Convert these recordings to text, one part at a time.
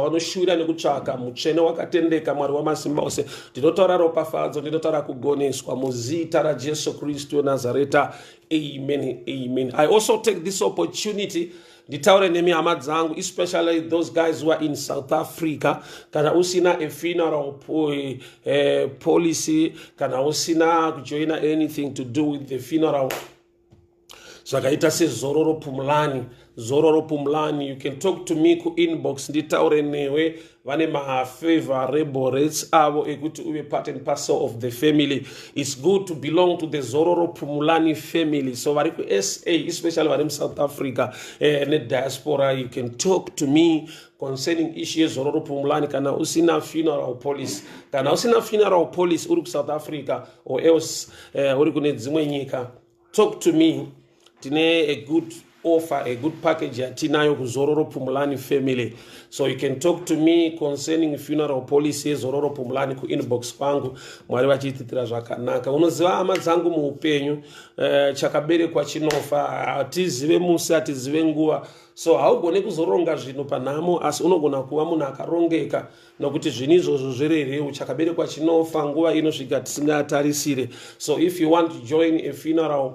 vanoshuvira nekutsvaka mutsvene wakatendeka mwari wamasimba ose ndinotaura ropafadzo ndinotaura kugoneswa muzita rajesu kristu wenazareta amen amen i also take this opportunity nditaure nemi hama dzangu especially those guys who are in south africa kana usina a funeral po, eh, policy kana usina kujoina anything to do with the funeral zvakaita sezororo pumulani zororo pumulani you can talk to me kuinbox nditaure newe vane mafavorable rates avo ekuti uve part and parcel of the family its good to belong to the zororo pumulani family so vari kusa especially vari musouth africa eh, nediaspora you can talk to me concerning ishu yezororo pumulani kana usina funeral police kana usina funeral police uri kusouth africa or else uh, uri kune dzimwe nyika talk to me tine a good offer a good package yatinayo kuzororo pumulani family so you can talk to me concerning funeral policy yezororo pumulani kuinbox kwangu mwari vachiititira zvakanaka unoziva hama dzangu muupenyu uh, chakaberekwa chinofa hatizive musi hatizive nguva so haugone kuzoronga zvinhu panhamo asi unogona kuva munhu akarongeka nokuti zvinhu izvozvo zverereu chakaberekwa chinofa nguva inosvika tisingatarisire so if you want to join a funeral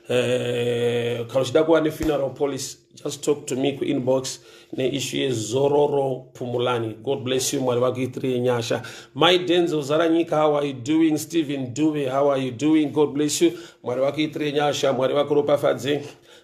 eh, kana uchida kuva nefuneral policy just talk to me kuinbox neishu yezororo pumulani god bless you mwari vakuitirie nyasha my denzel zara nyika how are you doing stephen duve how are you doing god bless you mwari vakuitirie nyasha mwari vakuropafadze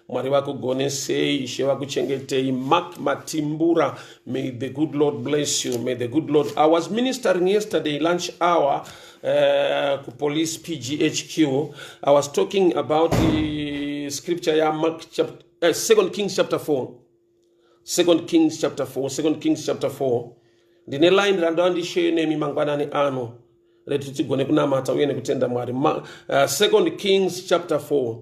Mwari vakugonesei, Ishe vakuchengetei. Mark Matimbura, may the good Lord bless you. May the good Lord. I was ministering yesterday lunch hour uh, ku police PGHQ. I was talking about the scripture ya Mark chapter, uh, eh, 2 Kings chapter 4. 2 Kings chapter 4, 2 Kings chapter 4. Ndine line randava ndisheyo nemi mangwanani ano rekuti tigone kunamata uye nekutenda Mwari. Ma, uh, eh, 2 Kings chapter 4.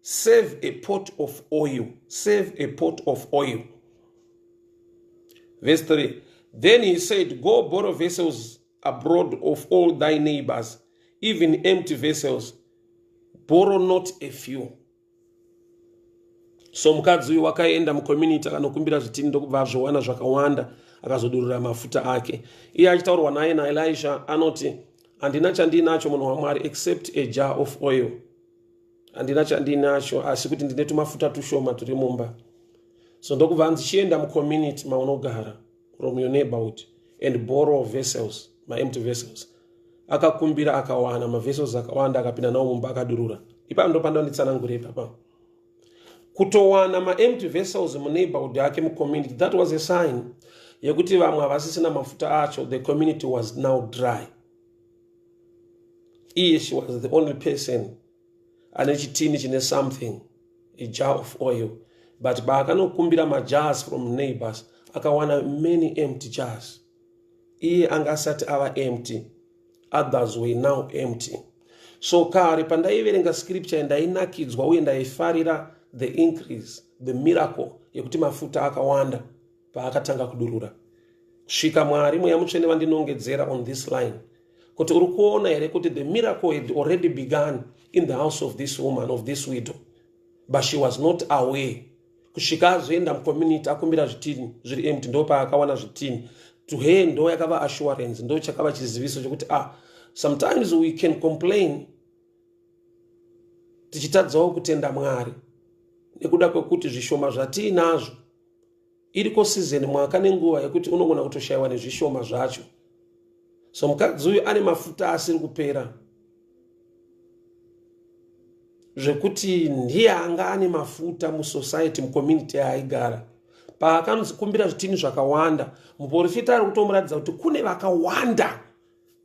save a pot of oil save a pot of oil verse 3 then he said go borrow vessels abroad of all thy neighbors even empty vessels borrow not a few so mukadzi uyu wakaenda mucommunity akanokumbira zvitini ndokubva azvowana zvakawanda akazodurura mafuta ake iye achitaurwa naye naelisha anoti handina chandiinacho munhu wamwari except a jar of oil handina chandinacho asi kuti ndine tumafuta tushoma turi mumba so ndokuva hanzi chienda mucommunity maunogara from your neighborhood and borrow vessels maempty vessels akakumbira akawana mavessels akawanda akapinda nawo mumba akadurura ipapo ndopanda nditsanangure ipapa kutowana maempty vessels muneighborhood yake mucommunity that was a sign yekuti vamwe havasisina mafuta acho the community was now dry iye she was the only person ane chitini chine something a jar of oil but baakanokumbira majars from neighbors akawana many empty jars iye anga asati ava empty others were now empty so kare pandaiverenga scripture ndainakidzwa uye ndaifarira the increase the miracle yekuti mafuta akawanda paakatanga kudurura svika mwari mweya mutsvene vandinongedzera on this line kuti uri kuona here kuti the miracle had already begun in the house of this woman of this widow but she was not aware kusvika azoenda mucommunity akumbira zvitini zviri empty ndo paakawana zvitini to her ndo yakava assurance ndo chakava chiziviso chokuti ah sometimes we can complain tichitadzawo kutenda mwari nekuda kwekuti zvishoma zvatiinazvo iriko sizeni mwaka nenguva yekuti unogona kutoshayiwa nezvishoma zvacho so mukadzi uyu ane mafuta asiri kupera zvekuti ndiye anga ane mafuta musociety mucommunity yaaigara paakanzi kumbira zvitini zvakawanda muporofita ari kutomuratidza kuti kune vakawanda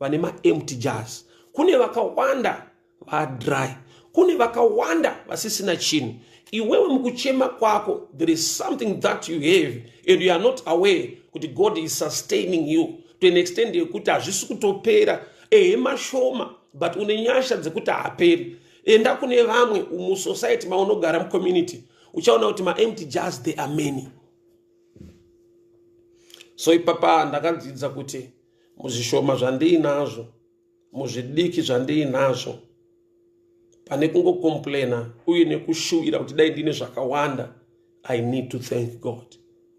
vane maempty jars kune vakawanda vadry kune vakawanda vasisina chinhu iwewe mukuchema kwako there is something that you have and you are not aware kuti god is sustaining you to an extend yekuti hazvisi kutopera ehe mashoma but une nyasha dzekuti haaperi enda kune vamwe musociety maunogara mucommunity uchaona kuti maempty jars they are many so ipapa ndakadzidza kuti muzvishoma zvandiinazvo muzvidiki zvandiinazvo pane kungocomplaina uye nekushuwira kuti dai ndine zvakawanda i need to thank god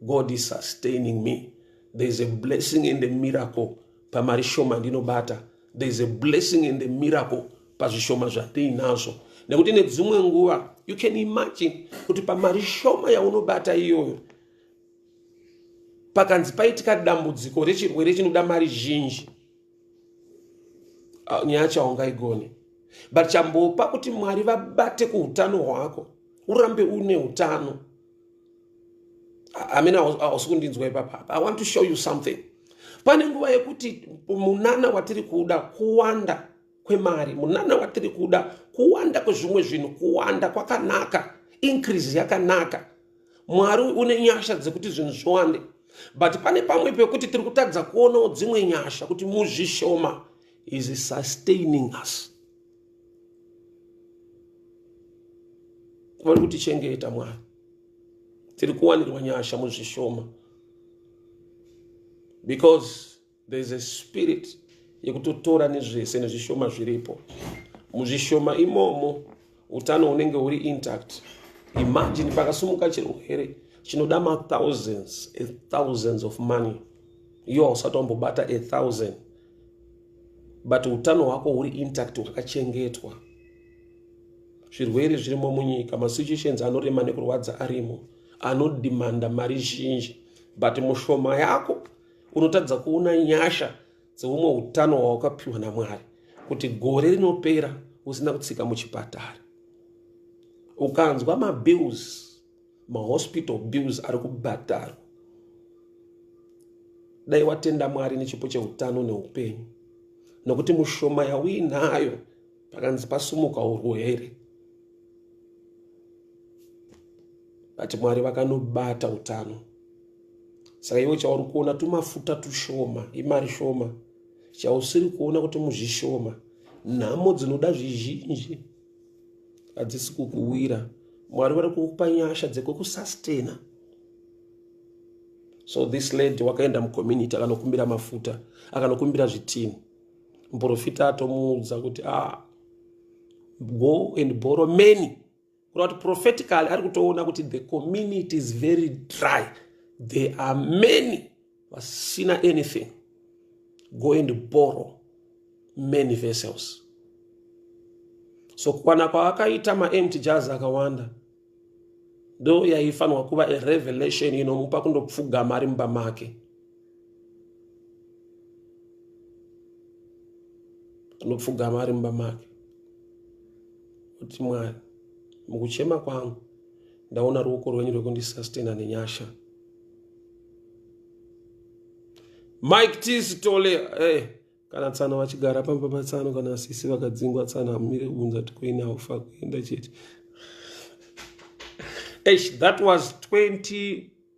god is sustaining me there is a blessing and a miracle pamari shoma ndinobata there is a blessing and a miracle pazvishoma zvandiinazvo nekuti nedzimwe nguva you can imagine kuti pamari shoma yaunobata iyoyo pakanzi paitika dambudziko rechirwere chinoda mari zhinji ah, nyaya chaungaigone but chambopa kuti mwari vabate kuutano hwako urambe une utano amene hausi kundinzwa ipapa i want to show you something pane nguva yekuti munana watiri kuda kuwanda kwemari munana watiri kuda kuwanda kwezvimwe zvinhu kuwanda kwakanaka increase yakanaka mwari une nyasha dzekuti zvinhu zviwande but pane pamwe pekuti tiri kutadza kuonawo dzimwe nyasha kuti muzvishoma is sustaining us vari kutichengeta mwari tiri kuwanirwa nyasha muzvishoma because There is a spirit yekutotora nezvese nezvishoma zviripo muzvishoma imomo utano hunenge huri intact imagine pakasumuka chirwere chinoda mathousands athousands of money iyo hausati wambobata athousand but utano hwako huri intact hwakachengetwa zvirwere zvirimo munyika masituations anorema nekurwadza arimo anodimanda mari zhinji but mushoma yako unotadza kuona nyasha dzehumwe utano hwawakapiwa namwari kuti gore rinopera usina kutsika muchipatara ukanzwa mabills mahospital bills ari kubhadharwa dai watenda mwari nechipo cheutano neupenyu nokuti mushoma yauinayo pakanzi pasumuka urwere vati mwari vakanobata utano saka iwe chauri kuona tumafuta tushoma imari shoma chausiri kuona kuti muzvishoma nhamo dzinoda zvizhinji hadzisi kukuwira mwari vari kukupa nyasha dzekukusastena so this lady wakaenda mucommunity akanokumbira mafuta akanokumbira zvitini muprofita atomuudza kuti ah, go and borrow many Kura kuti prophetically ari kutoona kuti the community is very dry. There are many vasina anything. Go and borrow many vessels. So kukwana kwaakaita maempty jars akawanda ndo yaifanirwa kuva a revelation inomupa kundopfugama ari mumba make. anopfugama ari mumba make kuti mwari mukuchema kwangu ndaona ruoko rwenyu rwekundisastena nenyasha mike tis tole hey. Eh, kana tsana vachigara pamba patsano kana sisi vakadzingwa tsana amire kunza tikoine aufa kuenda chete eish that was 20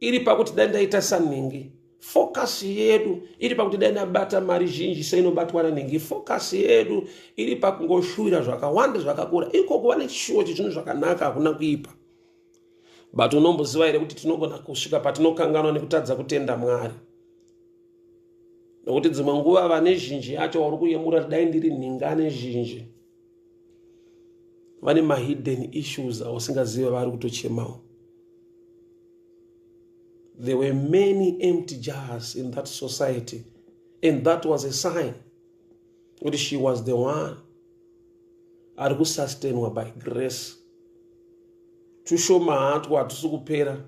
iri pakuti dai ndaita sanhingi focus yedu iri pakuti dai ndabata mari zhinji seinobatwa nanhingi focus yedu iri pakungoshuwira zvakawanda zvakakura ikoko vane chishuwo chezvinhu zvakanaka hakuna kuipa but unomboziva here kuti tinogona kusvika patinokanganwa nekutadza kutenda mwari nokuti dzimwe nguva vane zhinji yacho wauri kuyemura dai ndiri nhingane zhinji vane mahidden issues ausingazive vari kutochemawo there were many empty jars in that society and that was a sign kuti she was the one ari kusustainwa by grace tushoma hatwo hatusi kupera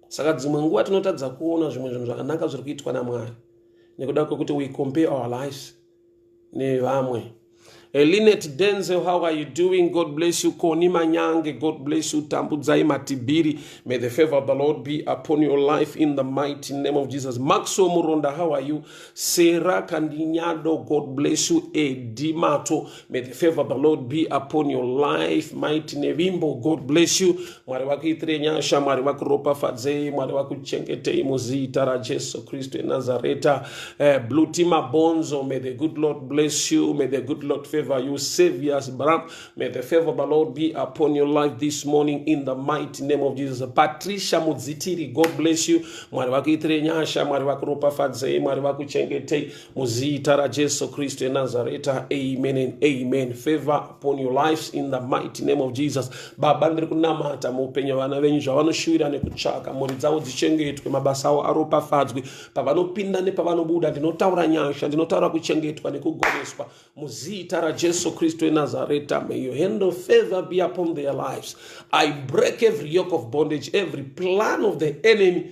saka dzimwe nguva tinotadza kuona zvimwe zvinhu zvakanaka zviri kuitwa namwari nekuda kwekuti we compare our lives nevamwe eh, linet denzel how are you doing god bless you koni manyange god bless you tambudzai matibiri may the favor of the lord be upon your life in the mighty name of jesus maxwell muronda how are you sera kandinyado god bless you edimato May the favor of the Lord be upon your life. Mighty Nevimbo, God bless you. Mwari vakuitire nyasha, Mwari vakuropafadzei, Mwari vakuchengetei muzita raJesu Kristu eNazareta. Uh, eh, Blue Tima Bonzo, may the good Lord bless you. May the good Lord favor you. Saviors, Bram, may the favor of the Lord be upon your life this morning in the mighty name of Jesus. Patricia Mudzitiri, God bless you. Mwari vakuitire nyasha, Mwari vakuropafadzei, Mwari vakuchengetei. Muzita raJesu Kristu eNazareta, amen and amen. Favor upon your lives in the mighty name of Jesus. Baba, ndiri kunamata muupenyu vana venyu zvavanoshuvira nekutsvaka, mhuri dzavo dzichengetwe, mabasa avo aropafadzwe, pavanopinda nepavanobuda, ndinotaura nyasha, ndinotaura kuchengetwa nekugoneswa. Muzita raJesu Kristu eNazareta, may your hand of favor be upon their lives. I break every yoke of bondage, every plan of the enemy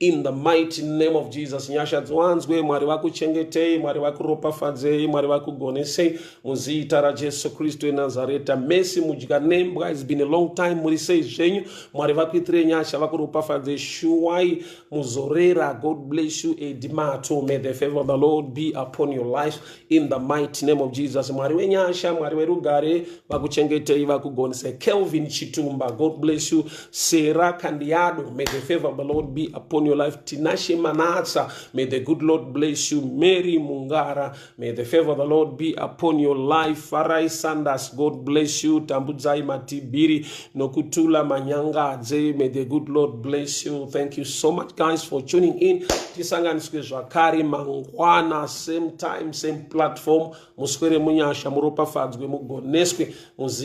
In the mighty name of Jesus, nyasha dziwanzwe, Mwari vakuchengetei, Mwari vakuropafadzei, Mwari vakugonesei, muzita raJesu Kristu eNazareta. Mercy mudya nembwa, it's been a long time, muri sei zvenyu, Mwari vakuitirei nyasha, vakuropafadzei, shuwai muzorera, God bless you, Edi Mato, may the favor of the Lord be upon your life, In the mighty name of Jesus, Mwari wenyasha, Mwari werugare, vakuchengetei, vakugonese. Kelvin Chitumba, God bless you. Sarah Kandiado, may the favor of the Lord be upon your life. Tinashe Manatsa, may the good Lord bless you. Mary Mungara, may the favor of the Lord be upon your life. Farai Sanders, God bless you. Tambudzai Matibiri, Nokutula Manyangadze. May the good Lord bless you. Thank you so much guys for tuning in. Tisanganiswe zvakare mangwana same time same platform. Muswere munyasha muropafadzwe mugoneswe muzi